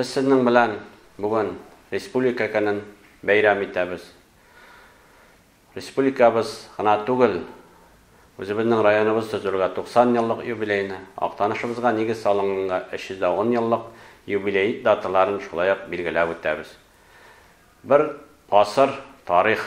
Без сезнең белән бүген республика көнен бәйрәм итәбез. Республикабыз гына түгел, үзебезнең районыбыз төзелергә 90 еллык юбилеены, Актанышыбызга нигез салынганга 310 еллык юбилеит даталарын шулай ук билгеләп үтәбез. Бер гасыр тарих.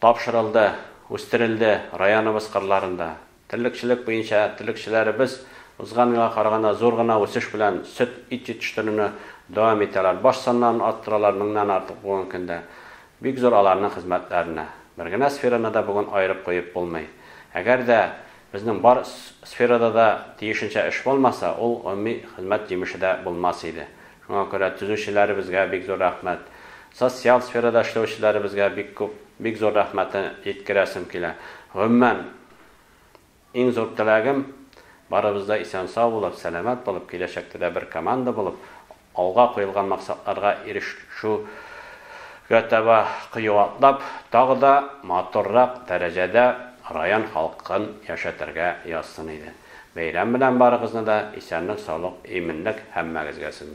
Тапшырылды, үстерелде районыбыз кырларында. Терлекчелек буенча терлекчеләребез узган елга караганда зур гына үсеш белән сөт, ит җитештерүне дәвам итәләр. Баш саннарын арттыралар меңнән артык бүгенге көндә. Бик зур аларның хезмәтләренә. Бер генә сфераны да бүген аерып куеп булмый. Әгәр дә безнең бар сферада да тиешенчә эш булмаса, ул гомуми хезмәт җимеше дә булмас иде. Шуңа күрә төзүчеләребезгә бик зур рәхмәт. Социаль сферада эшләүчеләребезгә бик күп, бик зур рәхмәтне җиткерәсем килә. Гомумән, иң зур теләгем, барыбыз да исән-сау булып, сәламәт булып, киләчәктә дә бер команда булып, алга куелган максатларга ирешүгә таба кыю атлап, тагы да матуррак дәрәҗәдә район халкын яшәтергә язсын иде. Бәйрәм белән барыгызны да, исәнлек-саулык, иминлек һәммәгезгә сезне!